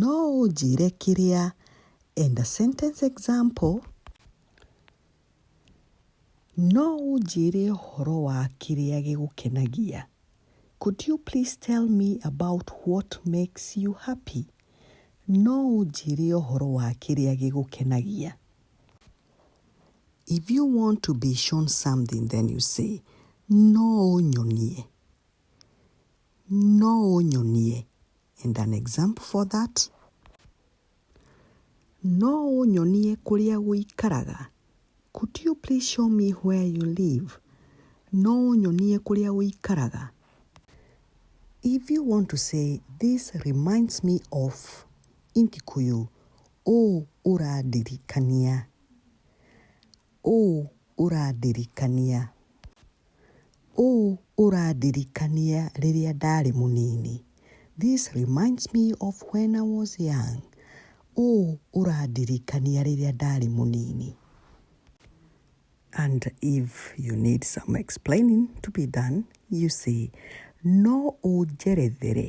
No ũnjĩre kĩrĩa enda sentence example. No ũnjĩre ũhoro wa kĩrĩa gĩgũkenagia. Could you please tell me about what makes you happy? No ũnjĩre ũhoro wa kĩrĩa gĩgũkenagia. If you want to be shown something then you say, no ũnyonie. No ũnyonie and an example for that. No ũnyonie kũrĩa ũikaraga. Could you please show me where you live? No ũnyonie kũrĩa ũikaraga. If you want to say this reminds me of in Kikuyu, ũũ ũrandirikania. Ũũ ũrandirikania. Ũũ ũrandirikania rĩrĩa ndarĩ mũnini. This reminds me of when I was young. Ũũ ũrandirikania rĩrĩa ndarĩ mũnini. And if you need some explaining to be done, you say, No ũnjerethere.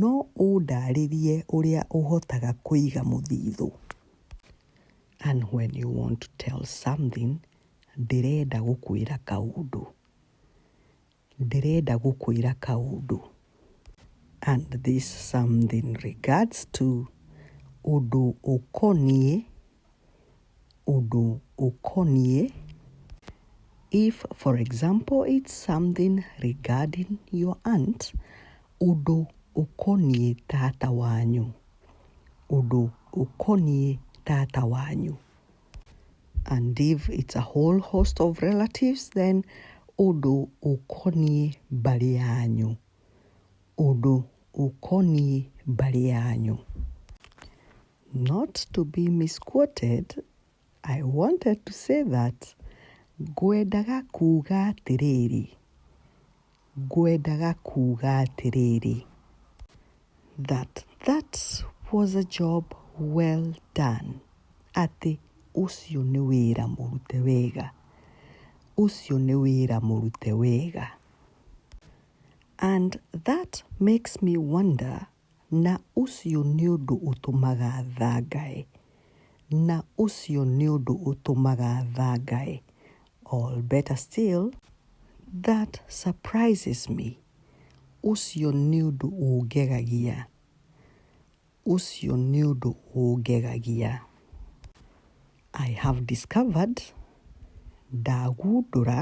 No ũndarĩrie ũrĩa ũhotaga kũiga mũthithũ. And when you want to tell something, ndĩrenda gũkwĩra kaũndũ. Ndĩrenda gũkwĩra kaũndũ. And this something regards to ũndũ ũkoniĩ ũndũ ũkoniĩ, if for example it's something regarding your aunt, ũndũ ũkoniĩ tata wanyu, ũndũ ũkoniĩ tata wanyu. And if it's a whole host of relatives then ũndũ ũkoniĩ mbarĩ yanyu, ũndũ ũkoniĩ mbarĩ yanyu. Not to be misquoted, I wanted to say that ngwendaga kuuga atĩrĩrĩ, ngwendaga kuuga atĩrĩrĩ, that that was a job well done, atĩ ũcio nĩ wĩra mũrute wega, ũcio nĩ wĩra mũrute wega. And that makes me wonder Na ũcio nĩ ũndũ ũtũmaga thangae. Na ũcio nĩ ũndũ ũtũmaga thangae. Or better still, That surprises me. Ũcio nĩ ũndũ ũngegagia. Ũcio nĩ ũndũ ũngegagia. I have discovered, Ndagundũra.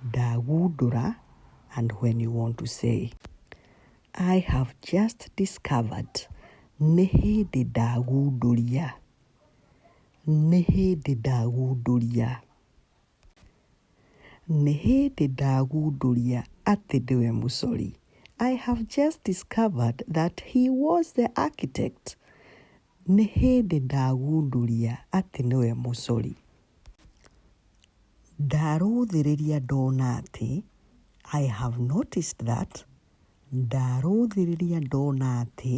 Ndagundũra and when you want to say. I have just discovered nĩ hĩndĩ ndagundũria, nĩ hĩndĩ ndagundũria. Nĩ hĩndĩ ndagundũria atĩ ndĩwe mũcori. I have just discovered that he was the architect. Nĩ hĩndĩ ndagundũria atĩ nĩwe mũcori. Ndarũthĩrĩria ndona atĩ, I have noticed that, ndarũthĩrĩria ndona atĩ,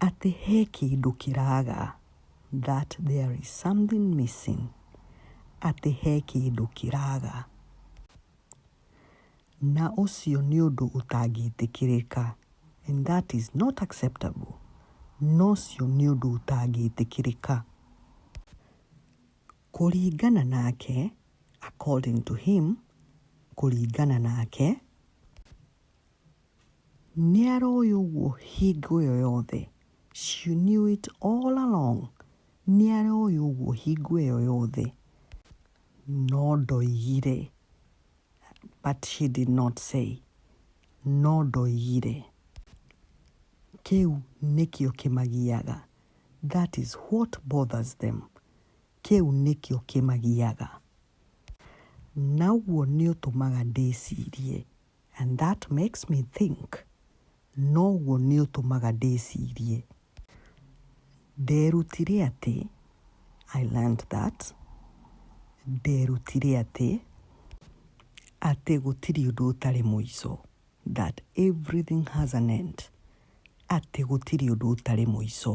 atĩ he kĩndũ kĩraga, that there is something missing, atĩ he kĩndũ kĩraga. Na ũcio nĩ ũndũ ũtangĩtĩkĩrĩka. And that is not acceptable. Na ũcio nĩ ũndũ ũtangĩtĩkĩrĩka. Kũringana nake, according to him, kũringana nake, nĩ aroĩ ũguo hingo ĩyo yothe. She knew it all along. Nĩ aroĩ ũguo hingo ĩyo yothe. No ndoigire. But she did not say. No ndoigire. Kĩu nĩkĩo kĩmagiaga. That is what bothers them. Kĩu nĩkĩo kĩmagiaga. Naguo nĩ ũtũmaga ndĩcirie. And that makes me think, noguo nĩ ũtũmaga ndĩcirie. Nderutire atĩ, I learned that, nderutire atĩ, atĩ gũtirĩ ũndũ ũtarĩ mũico, that everything has an end, atĩ gũtirĩ ũndũ ũtarĩ mũico.